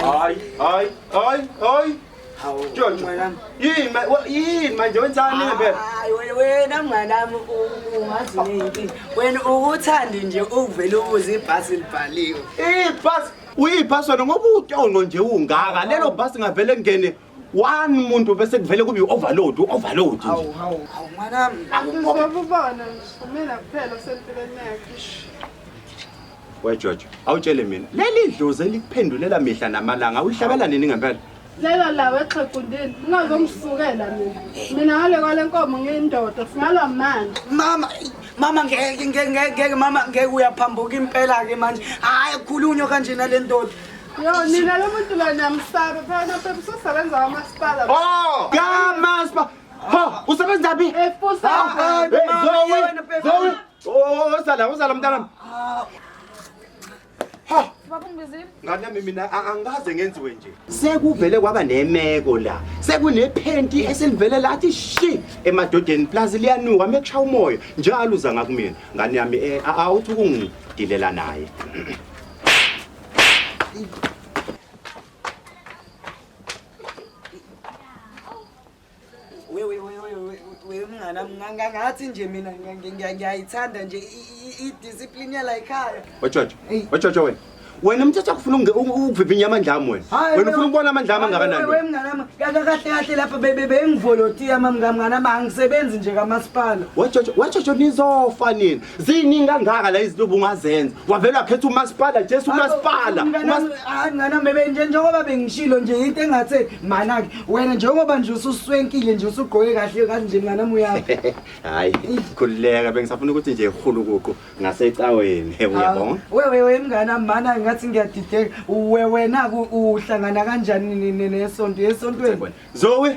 Hayi, hayi, hayi, hayi. Jojo. Yini ma- wa- yini manje wenzani ngempela? Hayi, we- wena mnganami u- ungazi neyinkinga wena ukuthandi nje ukuvele ubuze ibhasi libhaliwe Ibhasi uyiphasona ngoba utyongo nje ungaka lelo bhasi ngavele ngene one muntu bese kuvele kube i-overload u-overload nje Hawu, hawu, hawu, mwanami. Ngizobabona mina kuphela sempilweni yakhe. wejojo awutshele mina leli dlozi elikuphendulela mihla namalanga ulihlabela nini ngempela Lelo lawe exhegundini ungazongisukela mina. Mina ngale kwale nkomo ngiyindoda singalwa manje. Mama, ey, mama ngeke ngeke ngeke ngeke, mama ngeke uyaphambuka impela ke manje. Hayi khulunywa kanje nale ndoda. Yo nina lo muntu la namsaba phana phela usesebenza kwamasipala. Oh! Kamaspa. Ha, usebenza phi? Efusa. Ah, Hey, Zoe, Zoe. Oh, usala, usala mntanami. Ha, Baba ngibizile. ngane yami mina a- angikaze ngenziwe nje. Sekuvele kwaba nemeko la. Sekunephenti eselivele lathi shi emadodeni plus liyanuka mekusha umoya. Njalo uza ngakumina. Ngane yami eh a- awuthi ukungidelela naye. wewe wewe wewe wewe mngana mnganga ngathi nje mina ngiya- ngiya- ngiya- ngiyayithanda nje i- i- i-discipline yala ekhaya watshotsho Ey. watshotsho wena wena mthatha akufuna unge- u- u- ukuvivinya amandla ami wena Hayi, wena ufuna ukubona amandla ami angakanani Hayi, wewe wena? mngana wami, ka- ka- kahle kahle lapha be- be- bengivolotiya mamngamngana ma angisebenzi nje kamasipala watshotsho watshotsho nizofa nini ziningi kangaka la izinto bungazenza wavele wakhetha umasipala jesu umasipala ngana bebe nje njengoba bengishilo nje into engathe manake wena njengoba nje ususwenkile nje usugqoke kahle kahle nje ngana muyaphi hayi khululeka bengisafuna ukuthi nje ihulukuqu ngasecaweni uyabona wewe we mngana mana ngathi ngiyadideka wena uhlangana kanjani nesonto esontweni zoe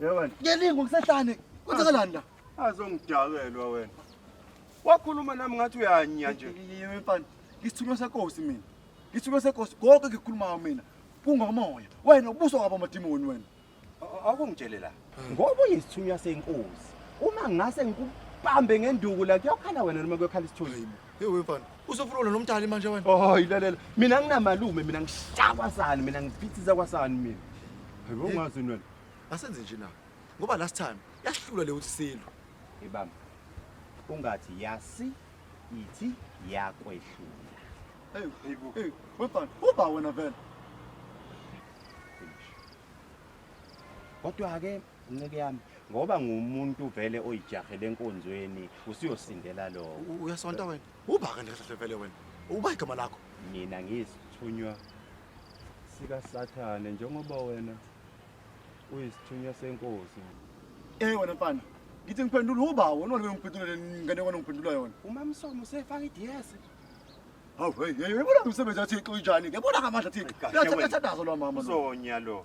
Yewena. Ngelingo kusehlane. Kwenzakalani la? Azongidakelwa wena. Wakhuluma nami ngathi uyanya nje. Yimi mfana. Ngisithunywa seNkosi mina. Ngisuke seNkosi konke ngikukhulumayo mina. Kungomoya. Wena ubuso kwabo amadimoni wena. Akungitshele la. Ngoba uyisithunywa seNkosi. Uma ngase ngikubambe ngenduku la kuyokhala wena noma kuyokhala isithunzi. Hey wefana, usofuna wena nomdali manje wena. Oh, ilalela. Mina nginamalume, mina ngishakwa sani, mina ngiphithisa kwasani mina. Hayibo ungazi wena. Asenze nje na. Ngoba last time yasihlula le usilu. Ibamba. Ungathi yasi ithi yakwehlula. Hey, hey, hey, wefana, uba wena vele. Kodwa ke Nceke yami ngoba ngumuntu vele oyijahele enkonzweni usuyosindela lowo. U- Uyasonta wena. Ubhaka nje kahle vele wena. Uba igama lakho. Mina ngiyisithunywa sikaSathane njengoba wena uyisithunywa senkosi. Eh wena mfana. Ngithi ngiphendula uba wena wena ngiphendula le ngane wena ngiphendula yona. UMamsomo usefaka iDS. Hawu hey hey yabona umsebenzi wathi ixo injani. Yabona ngamandla thina. Kahle wena. Yathandazo lwa mama. lo. Uzonya lo.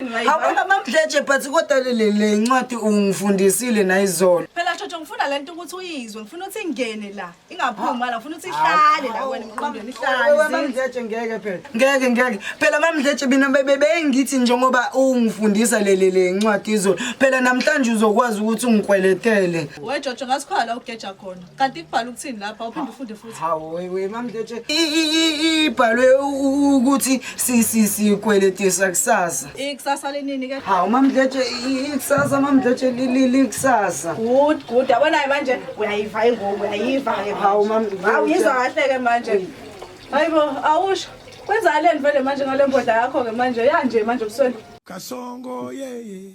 Awona mamdleje but kodwa le le ncwadi ungifundisile nayizolo. Phela Jojo ngifuna lento ukuthi uyizwe, ngifuna ukuthi ingene la, ingaphumi la, ngifuna ukuthi ihlale la wena emqondweni ihlale. Wewe mamdleje ngeke phela. Ngeke ngeke. Phela mamdleje mina bebe bengithi njengoba ungifundisa le le le ncwadi izolo. Phela namhlanje uzokwazi ukuthi ungikweletele. We Jojo ngasikhala ugeja khona. kanti kubhala ukuthini lapha uphinde ufunde futhi hawu wewe mamdletshe ibhalwe ukuthi sikweletisa kusasa ikusasa lenini ke hawu mamdletshe ikusasa mamdletshe likusasa good good abonayo manje uyayiva ingoku uyayiva ke hawu mamdletshe hawu yizwa kahle ke manje hayibo awusho kwenzakale nivele manje ngale mbodla yakho ke manje yanje manje ubusweni kasongo yeye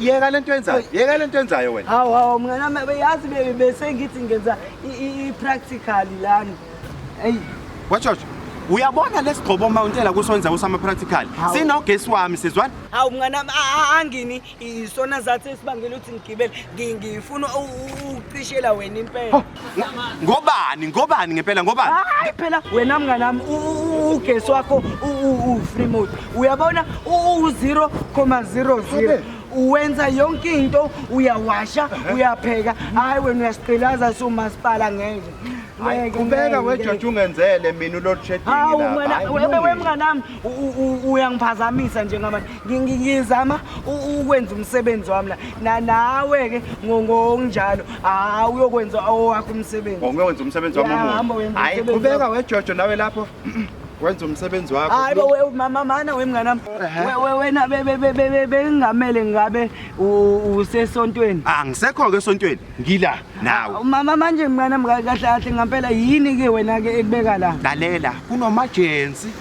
yeka le nto yenzayo yeka le nto yenzayo wena hawu hawu mnganami yazi besengithi ngenza i-practical lana eyi watshotsho uyabona lesigqobo uma untela kusonza usama-practical sinogesi wami sizwani hawu mnganami angini isona zathi esibangela ukuthi ngigibele ngifuna ukucishela wena impela ngobani ngobani ngempela ngobani hayi phela wena mnganami ugesi wakho u-free mode uyabona u-zero comma zero zero uwenza yonke into uyawasha uyapheka hayi wena uyasiqilaza siwumasipala ngeke qhubeka wejotsha ungenzele mina ulodshedingi lapha wemnganami uyangiphazamisa njengamanje ngizama ukwenza umsebenzi wami la nawe-ke ngonjalo hayi uyokwenza owakho umsebenzi ngiyokwenza umsebenzi wami hayi qhubeka wejojo nawe lapho wenza umsebenzi wakho hayi bo mama mana wemngane wami wena bengamele ngabe usesontweni angisekho ah, ke esontweni ngila nawe ah, mama manje mngane wami kahle kahle ngampela yini ke wena ke ekubeka la lalela kunomajensi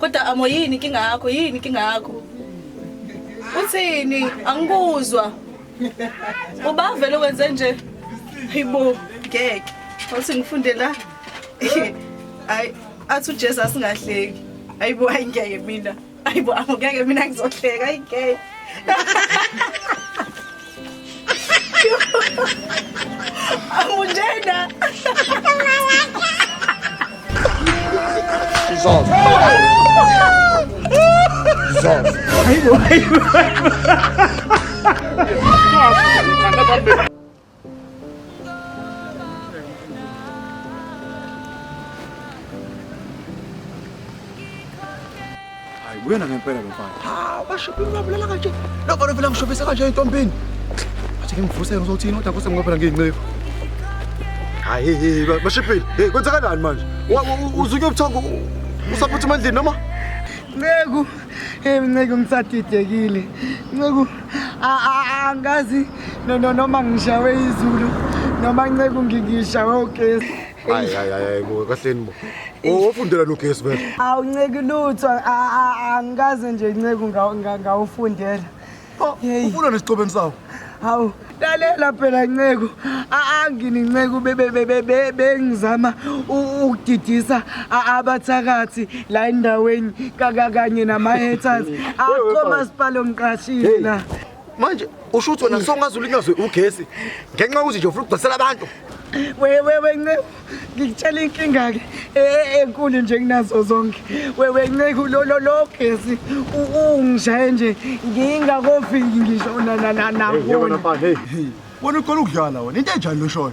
kodwa amo yini inkinga yakho yini inkinga yakho uthini angikuzwa ubavele wenze nje hayibo ngeke wathi ngifunde la hayi athi ujesu asingahleki ayibo hayi ngeke mina ayibo ngeke mina ngizohleka ayi ngeke amunjena Zon. Zon. Ayibo ayibo. Hayi uyena ngempela lo mfana. Hawu bashophe ngabulala kanje. Lo mfana vele ngishophe sekanje entombini. Athi ngimvusele uzothini kodwa kuse ngoba ngincinqefu. Hayi hey bashophe. Hey kwenzakalani manje? Uzuke ubuthongo usaphutha emandleni noma? Nceku. Hey Nceku ngisadidekile. Nceku angazi no no noma ngishawe izulu noma nceku ngikishawe ugesi hayi hayi hayi bo kahleni bo owofundela lo gesi phela awunceki lutho angikaze nje inceku ngawufundela oh, ufuna nesicobeni sawo hawu lalela phela nceku angini nceku bengizama ukudidisa abathakathi la endaweni kanye nama-haters akho masipala omqashile la manje usho ukuthi wena songaze ulinyazwe ugesi ngenxa yokuthi nje ufuna ukudosela abantu wewewe nceku ngikutshela inkinga-ke e, e, enkulu nje kunazo zonke wewe nceku lololo gesi ungishaye nje ngingakofiki ngisho nanakubona wena ukhona ukudlala wena into enjani loshoyo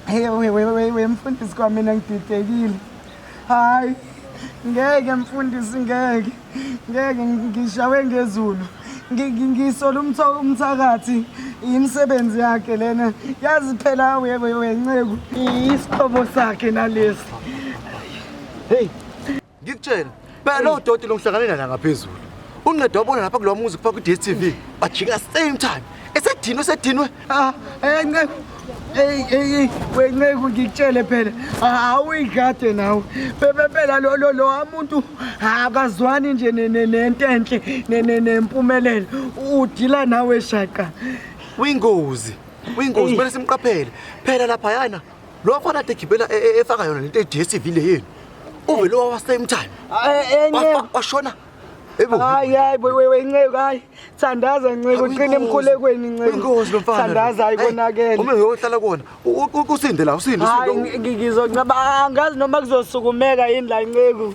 Hey we we we we mfundisi kwa mina ngididekile. Hayi. Ngeke mfundisi ngeke. Ngeke ngishawe ngezulu. Ngisola umtho umthakathi imisebenzi yakhe lena. Yazi phela we we we nceku. Isihlobo sakhe nalesi. Hey. ngikutshela phela lowo doti lomhlanganela la ngaphezulu unqeda wabona lapha kulowa muzi kufaka kwi-dstv bajika same time esedinwe esedinwe Ah, eh nceku. Hey hey we nceku ngikutshele phela awuyigade nawe. Bebe phela lo lo lo umuntu akazwani nje ne- ne- nento enhle ne- ne- nempumelelo. Udila nawe shaqa. uyingozi uyingozi kumele simqaphele phela laphayana Lo afana ade gibela e- e- efaka yona lento eDSTV le yenu. Uvele wawa same time. Ay, enye. Wafa- Washona. Ebo. Hayi hayi boy we wenceku hayi thandaza nceku qina emkhulekweni nceku Inkosi lo mfana. thandaza Hey, ayikonakele Uma ngiyohlala kuona. u- u- Usinde la, usinde hayi usinde. ngi- ngi- ngizoncaba angazi noma kuzosukumeka yini la nceku